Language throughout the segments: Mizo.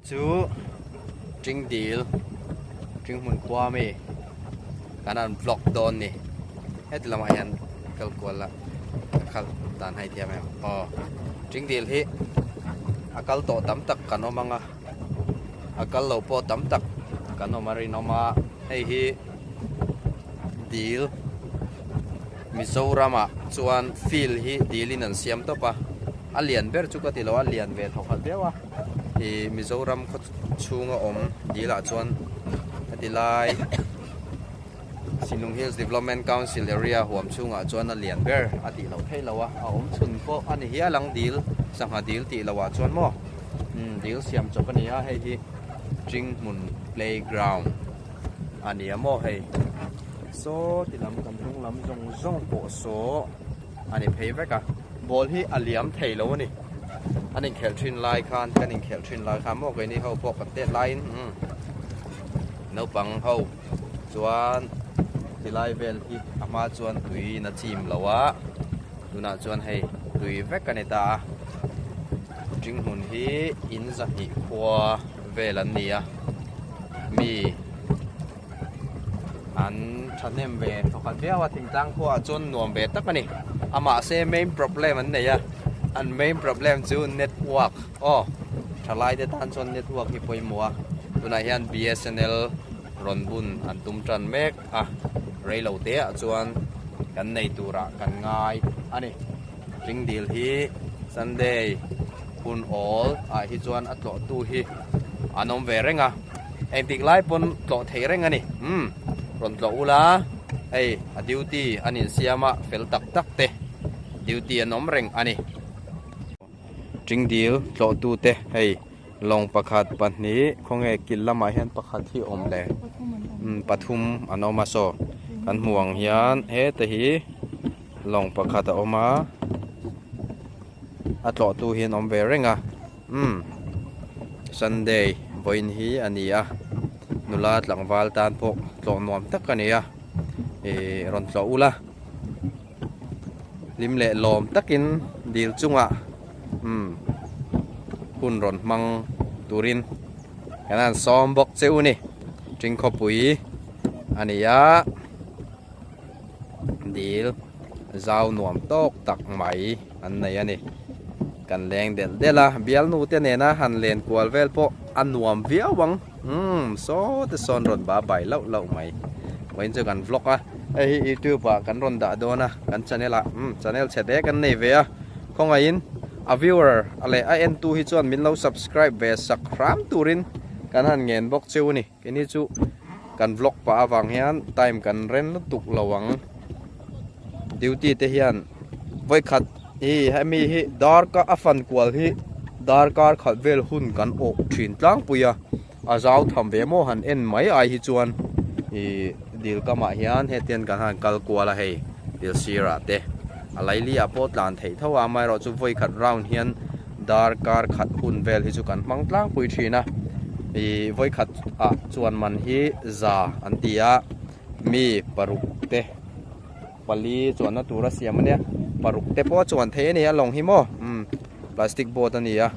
Chu Tring dil Tring hmun khua mi kan an vlog dawn ni heti lamah hian kal kual la ka khal dan hai thiam em aw Tring dil hi a kal tawh tam tak kan awm anga a kal lo pawh tam tak kan awm a rinawm a hei hi dil Mizorama chuan field hi dilin an siam tawp a a lian ber chu ka ti lo a lian ve thawkhat viau a. Hi Mizoram khaw chhunga awm dilah chuan heti lai Sinung Hills Development Council area huam chhungah chuan a lian ber a tih loh theih loh a, a awm chhun pawh a ni hial ang dil sangha dil tih loh ah chuan maw umm dil siam chawp a ni a, hei hi Ṭing hmun playground a nia maw hei. Saw ti lam kan hnung lam zawng zawng pawh saw. A ni phei vek a, ball hi a liam thei lo a ni. An inkhelh thin lai khan, kan inkhelh thin lai khan maw, keini ho pawh kan tet laiin naupang ho chuan tilai vel hi a hma chuan tuiin a chim lo a, tunah chuan hei tui vek a ni ta a. Ṭing hmun hi in zahnih khua vel an ni a, mi. An thahnem ve thawkhat viau a, thing tlang pawh ah chuan nuam ve tak a ni. A mahse main problem an nei a, an main problem chu network aw, tha lai te tan chuan network hi pawimawh a, tunah hian bsnl rawn bun an tum tan mek a, rei lo te ah chuan kan nei tur ah kan ngai a ni. Tling dil hi Sunday hun awl ah hi chuan a tlawh tu hi an awm ve reng a, engtik lai pawn tlawh thei reng a ni. Umm, rawn tlawh u la, hei a duty an insiam a fel tak tak te duty an awm reng a ni. Tling dil tlawh tu te hei lawng pakhat pahnih khawnge kil lamah hian pakhat hi awm leh umm pathum an awm a saw kan hmuh ang hian hete hi. Lawng pakhat a awm a, a tlawhtu hi an awm ve reng a. Umm, Sunday vawiin hi a ni a, nula tlangval tan pawh tlawh nuam tak a nia. Ih, rawn tlawh ula, hlim leh lawm takin dil chunga umm hun rawn hmang turin kan han sawm bawk che u ni. Tingkhawpui a ni a. dil zau nuam tawk tak mai an nei a ni kan leng del del a bialnu te nena han len kual vel pawh a nuam viau ang umm saw te sawn rawn ba bai lauh lauh mai vawiin chu kan vlog a hei hi youtube ah kan rawn dah dawn a kan channel ah umm channel chhe dek an nei ve a khawngaih in a viewer leh a en tu hi chuan min lo subscribe ve sak hram turin kan han ngen bawk cheu a ni. Keni chu kan vlog pah avang hian time kan rem lutuk lo ang. Duty te hian vawikhat hi hemi hi darkar a fan kual hi darkar khat vel hun kan awk thin tlangpui a. A zau tham ve maw han en mai ai hi chuan i dil kamah hian hetian kan han kal kual a hei dil sirah te. A Laili ah pawh tlan theih tho a amaherawhchu vawikhat round hian Dar kar khat hun vel hi chu kan hmang tlangpui thin a, i vawi khat ah chuan man hi za an ti a, mi paruk te pali chuan na tur a siam a nia, paruk te pawh chuan thei a ni a lawng hi maw umm plastic boat a ni a,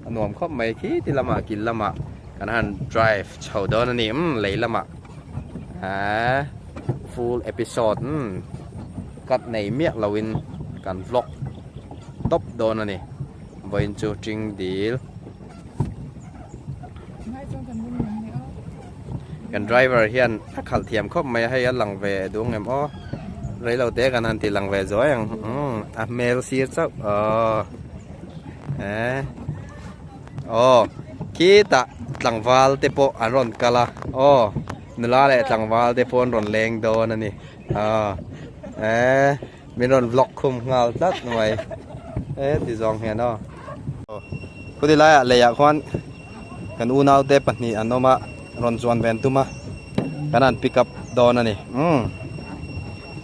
a nuam khawp mai khiti lamah kil lamah kan han drive chho dawn a ni umm lei lamah aaa full episode umm. Cut nei miah lo in kan vlog tawp dawn a ni. Vawiin chu Ṭing dil. Kan driver hian a khalh thiam khawp mai a, hei a lang ve dûng em aw. Reilo te kan han tih lang ve zuai ang. A hmel sir chauh aw. Eee. Aw, khitah tlangval te pawh an rawn kal a. Aw, nula leh tlangval te pawh an rawn leng dawn a ni. Aa, eh, min rawn vlog khum nghal tlat nuai. Eh, ti zawng hian aw. Khudi lai a lei ah khuan kan u nau te pahnih an awm a, rawn chuan ve an tum a. Kan an pick up dawn a ni. Umm.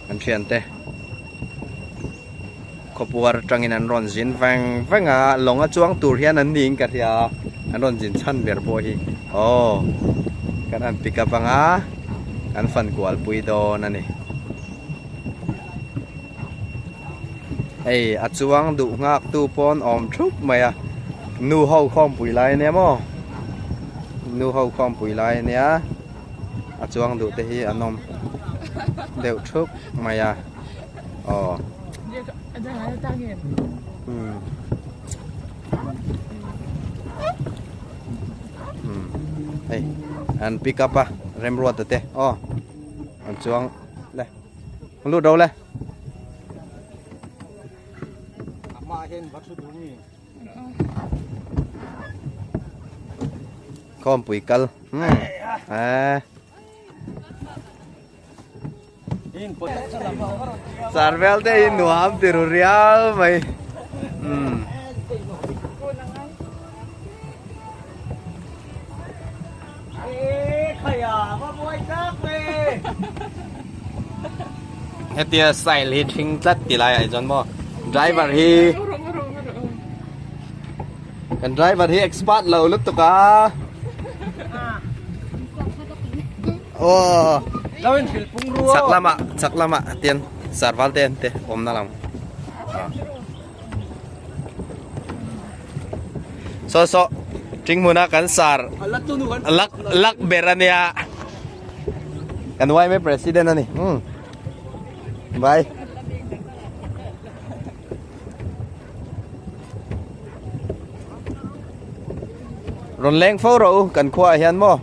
Kan thian te. Khawpuar tangin an rawn zin veng veng a, lawng a chuang tur hian an ni in ka hria a, an rawn zin chhan ber pawh hi aw kan han pick up ang a, kan fan kual pui dawn a ni. Hei a chuang duh nghak tu pawn awm thup mai a, nu ho khawmpui lai a nia maw, nu ho khawmpui lai a nia, a chuang duh te hi an awm deuh thup mai a. hei an pick up a remruat ate aw an chuang le lu do le ma hen va thu du mi khom pui kal à Sarvel te hi nuam tiru rial mai. Hmm. Hetia style hi thing tlat ti lai ai chon mo. Driver hi kan driver hi expert lo lutuk a. Aww. Zawin thil pung ruo. Chak lama, chak lama tian sarval te ante om na lang. So so ting muna kan sar. Lak tu nu kan. Lak lak berania. Kan wai me president ani. Hmm. Bye. Ron leng fo ro kan khua hian mo.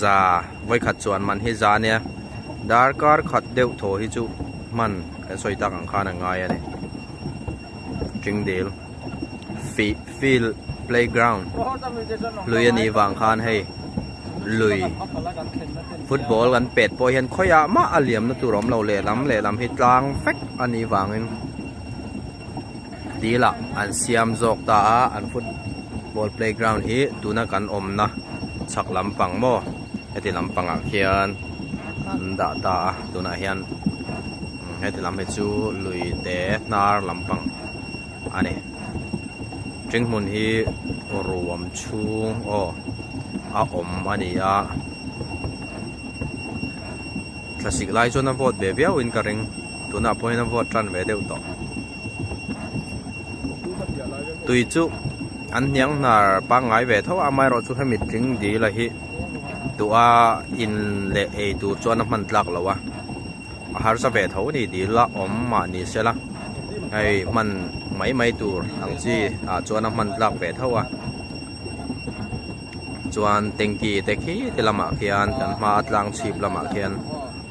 za vawikhat chuan man hi za nia darkar khat deuh thaw hi chu hman kan sawi tak ang khan a ngai a ni tingdil fi field playground lui a nih vang khan hei lui football kan pet pawh hian khawia mah a liam na tur awm lo lehlam lehlam hi tlang fek a nih vangin Dilah an siam zawk ta a, an football playground hi tuna kan awmna chhak lampang maw heti lampangah khian an dah ta a, tunah hian heti lam hi chu lui te hnar lampang a ni. Tring hmun hi ruam chhung aw a awm a ni a, thlasik lai chuan a vote ve viau in ka ring, tunah pawhin a vote tan ve deuh tawh. tui chu an hniang hnar pangngai ve tho a amaherawh chu hemi tling dil a hi tua in leh ei tur chuan a hman tlak lo a a harsa ve tho anih dil a awm mah ni sela hei hman mai mai tur ang chi ah chuan a hman tlak ve tho a. chuan tanky te khite lamah khian kan hma a tlang chhip lamah khian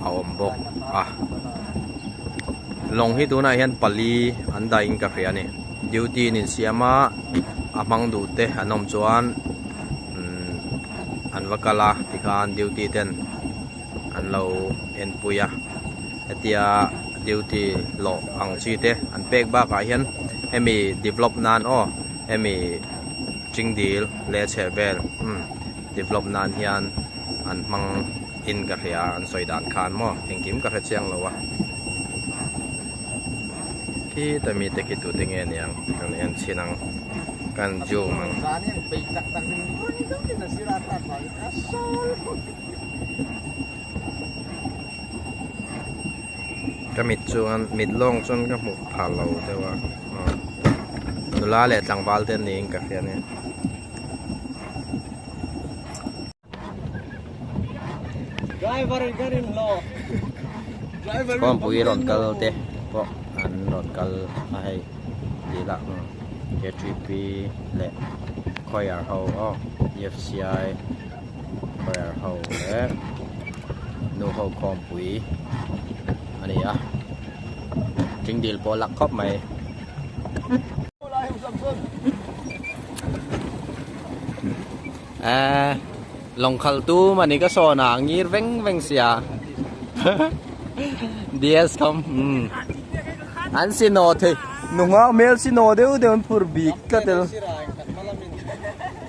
a awm bawk a lawng hi tunah hian pali an dahin ka hria a ni duty in insiam a a hmang duh te an awm chuan umm an va kal a tikhan duty ten an lo en pui a hetia duty lawh ang chi te an pek bakah hian hemi develop nan aw hemi chingdil-- hle chhe vel umm develop nan hian an hmang in ka hria an sawi dan khan maw engkim ka hre chiang lo a khita mi te khi tu te nge niang kan en chin ang kan zoom ang ka mit chuan mit lawng chuan ka hmu thar lo deuh a. nula leh tlangval te an niin ka hria ania driver in ka rin hlaw driver in pui ron kal te pawh an ron kal a hei ti la KTP le choir ho aw EFCI Prayer ho leh nu ho khawmpui a ni a, tling dil pawh a lak khawp mai. Eh, lawngkhal tum a ni ka sawn a, ngir veng veng sia. DS kham, um. An si naw thei, nu nghak hmel si naw deuh deuh an phur bik ka tel.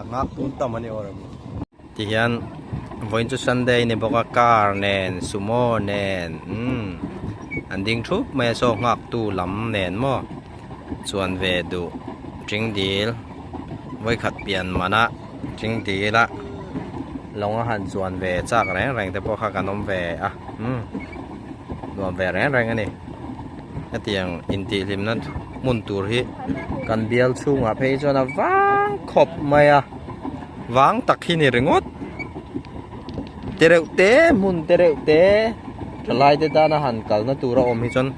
a ngak tum tam a ni awrh ang tihian vawiin chu sunday a ni bawk a car nen sumo nen umm an ding thup mai a saw nghak tu lam nen maw chuan ve duh tingdil vawikhat pian manah tingdila lawng a han chuan ve chak reng reng te pawh kha kan awm ve a umm nuam ve reng reng a ni. hetiang intihhlimna hmun tur hi kan bial chhungah phei hi chuan a vang khawp mai a vang tak hi ni ringawt te reuh te hmun te reuh te thalai te tana han kalna tura awm hi chuan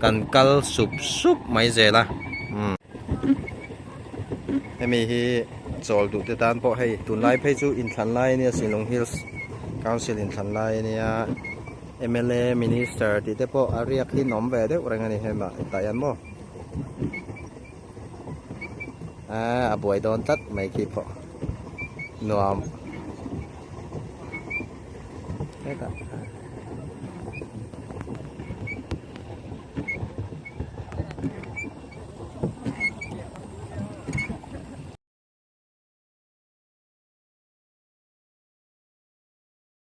kan kal sup sup mai zel a hmm. hemi hi chawl duh te tan pawh hei tunlai phei chu inthlanlai ania silung hills council inthlanlai ania Mla, Minister tih te pawh a riak in awm ve deuh reng a ni hema i tah hian maw? Aaa a buai dawn tlat mai khi pawh nuam hek a.